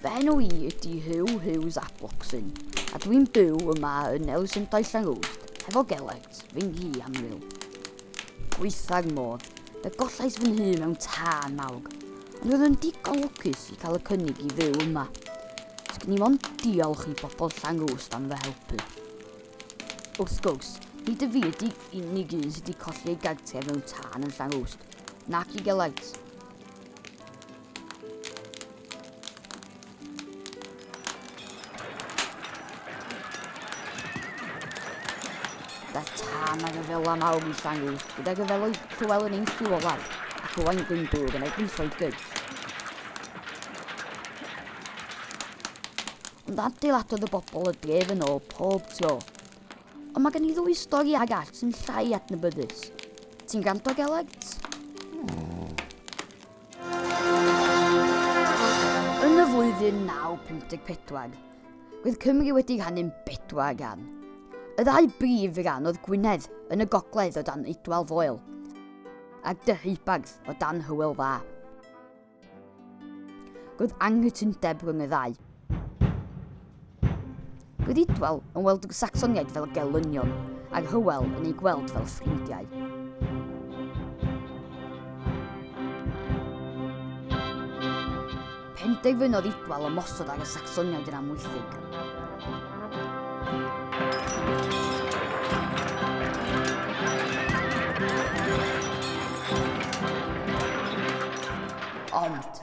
Fy enw i ydy Huw Hughes ap Locsin, a dwi'n byw yma yn Elusendai Llangwst, hefo Gelect, fy nghi annwyl. Gweithag modd, fe gollais fy nhŷ mewn tân mawr, ond roedd yn digon lwcus i cael y cynnig i fyw yma. Sgyn i mond diolch i bobl Llangwst am fy helpu. Wrth gwrs, nid y fi ydy unig un sydd wedi colli ei gartref mewn tân yn Llangwst, nac i Gelect. Da tan ag y fel am awr i sangu, gyda gyfeloedd Llywel yn ein lliw olaf, ac Owain Glyndŵr yn erbyn Lloegr. ond adeiladodd y bobl y dref yn ôl pob tro. Ond mae gen i ddwy stori ag all sy'n llai adnabyddus. Ti'n granto, Gelegt? Yn y flwyddyn 954, roedd Cymru wedi rhannu'n bedwar ran. Y ddau brif ran oedd Gwynedd yn y gogledd o dan Eidwal Foel a'r Deheubarth o dan Hywel Dda. Roedd anghytundeb rhwng y ddau. Roedd Idwal yn weld y Sacsoniaid fel gelynion, a Hywel yn eu gweld fel ffrindiau. Penderfynodd Idwal ymosod ar y Sacsoniaid yn amwythig. Ond,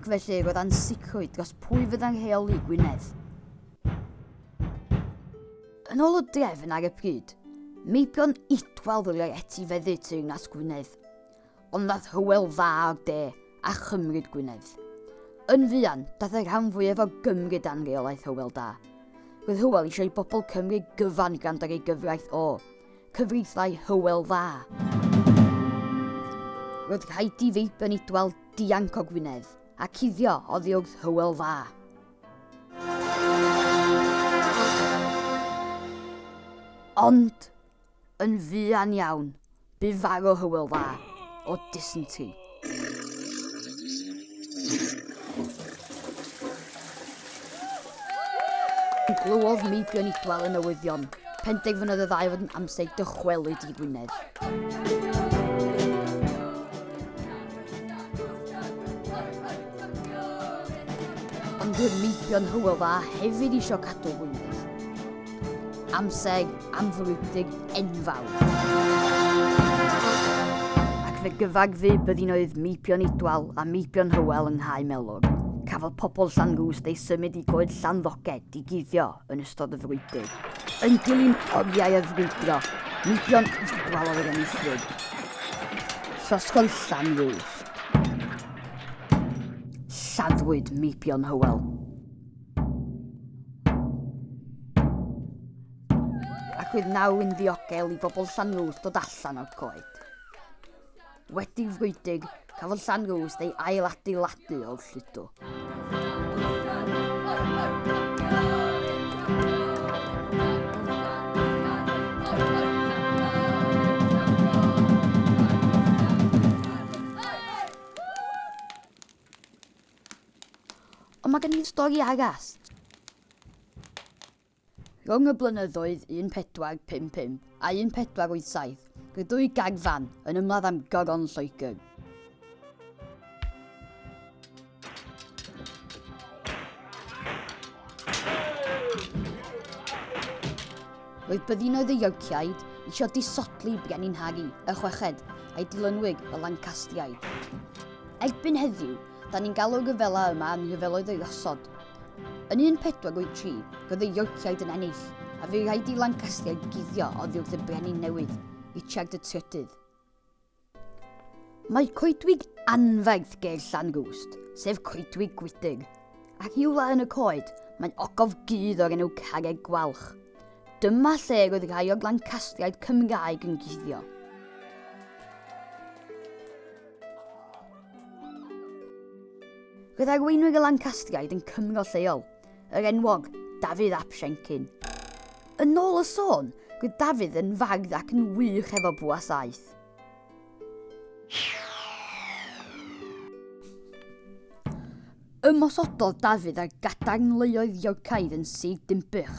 ac felly roedd ansicrwydd dros pwy fyddai'n rheoli Gwynedd. Yn ôl y drefn ar y pryd, meibion Idwal ddylai etifeddu Teyrnas Gwynedd, ond daeth Hywel Dda o'r de a chymryd Gwynedd. Yn fuan, daeth y rhan fwyaf o Gymru dan reolaeth Hywel Dda. Roedd Hywel eisiau i bobl Cymru gyfan gwrando ar ei gyfraith o, cyfreithlai Hywel Dda. Roedd rhaid i feibion Idwal dianc o Gwynedd, a cuddio oddi wrth Hywel Dda. Ond, yn fuan iawn, bu farw Hywel Dda o dysynti. Glywodd Meibion Idwal y newyddion. Penderfynodd y ddau fod yn amser dychwelyd i Wynedd. Ond dyw'r meibion Hywel Dda hefyd eisiau cadw hwyl. Amseg amfrwydig enfawr. Ac fe gyfagfu byddinoedd meibion Idwal a meibion Hywel yng Nghae Melog. Cafodd pobl Llan Gwst eu symud i goed Llanddoged i guddio yn ystod y frwydyr. Yn dilyn oriau a frwydro, mudio'n ysgwawr oedd enillwyd. Llosgodd Llanrwys. Lladdwyd Meibion Hywel. Ac oedd naw yn ddiogel i bobl Llanrwys dod allan o'r coed. Wedi fwydig, cafodd Llanrwst ei ail-adeiladu o'r lludw. Ond mae gen i'n stori arall. Rhwng y blynyddoedd 1455 a 1487, roedd dwy garfan yn ymladd am Goron Lloegr. Roedd byddinoedd y Yorkiaid eisiau disodli Brenin Harry y Chweched a'i dilynwyr y Lancastriaid. Erbyn heddiw, da ni'n galw'r rhyfela yma yn rhyfeloedd y Rhosod, Yn 1483, roedd y Yorkiaid yn ennill, a fu rhaid i Lancastriaid guddio oddi wrth y brenin newydd, Richard y Trydydd. Mae coedwig anferth ger Llanrwst, sef coedwig Gwydig, a rhywle yn y coed mae ogof gudd o'r enw Carreg Gwalch. Dyma lle roedd rhai o'r Lancastriaid Cymraeg yn guddio. Roedd arweinwyr y Lancastriaid yn Cymro lleol, yr enwog Dafydd ap Siencyn. Yn ôl y sôn, roedd Dafydd yn fardd ac yn wych efo bwa saeth. Ymosododd Dafydd ar gadarnleoedd Iorcaidd yn Sir Dinbych.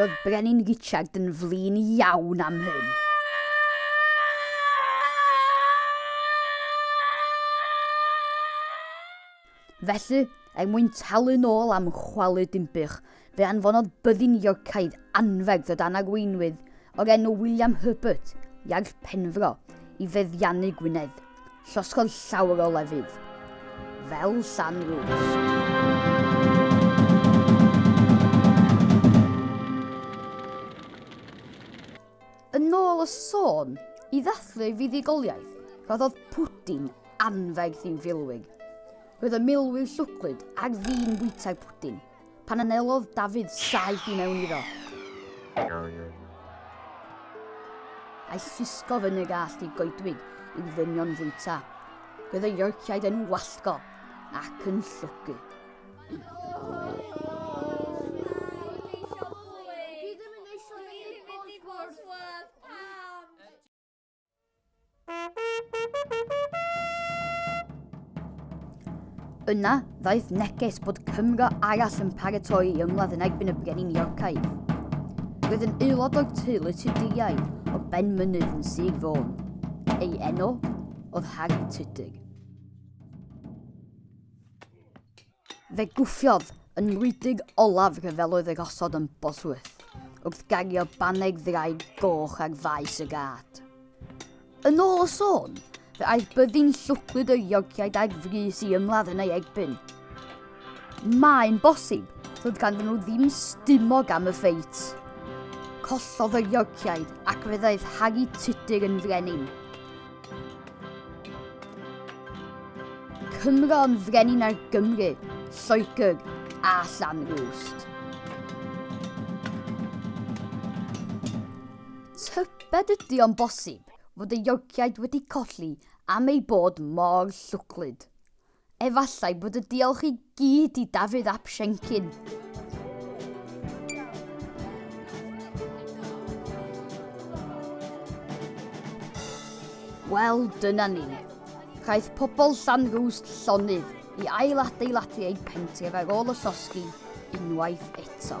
Roedd Brenin Richard yn flin iawn am hyn. Felly, er mwyn talu'n ôl am chwalu Dinbych, fe anfonodd byddin Iorcaidd anferth o dan arweinwydd o'r enw William Herbert, Iarll Penfro, i feddiannu Gwynedd. Llosgodd llawer o lefydd, fel Llan Rwst. Yn ôl y sôn, i ddathlu ei fuddugoliaeth, rhoddodd pwdin anferth i'w filwig. Roedd y milwyr llwglyd ar fin bwyta'r pwdin pan anelodd Dafydd saeth i mewn iddo. A'i llusgodd yn y gallt i goedwig i'w ddynion fwyta. Roedd y Yorciaid yn wallgo ac yn llwgu. Yna, ddaeth neges bod Cymro arall yn paratoi i ymladd yn erbyn y brenin Iorcaidd. Roedd yn aelod o'r teulu Tuduriau o Ben Mynydd yn Sir Fôn. Ei enw oedd Harry Tudur. Fe gwffiodd yn ngwledig olaf rhyfeloedd y rhosod yn Bosworth, wrth gario baned ddraig goch ar faes y gad. Yn ôl y sôn, fe aeth byddin llwglyd yr Iorciaid ag frys i ymladd yn ei erbyn. Mae'n bosib fod ganddyn nhw ddim stumog am y ffeit. Collodd yr Iorciaid ac fe ddaeth Harri Tudur yn frenin. Cymro yn frenin ar Gymru, Lloegr a Llanrwst. Tybed ydy o'n bosib fod y Yorkiaid wedi colli am eu bod mor llwglyd? Efallai bod y diolch i gyd i Dafydd ap Siencyn. Wel, dyna ni. Caeth pobl Llanrwst llonydd i ailadeiladu eu pentir ar ôl y llosgi unwaith eto.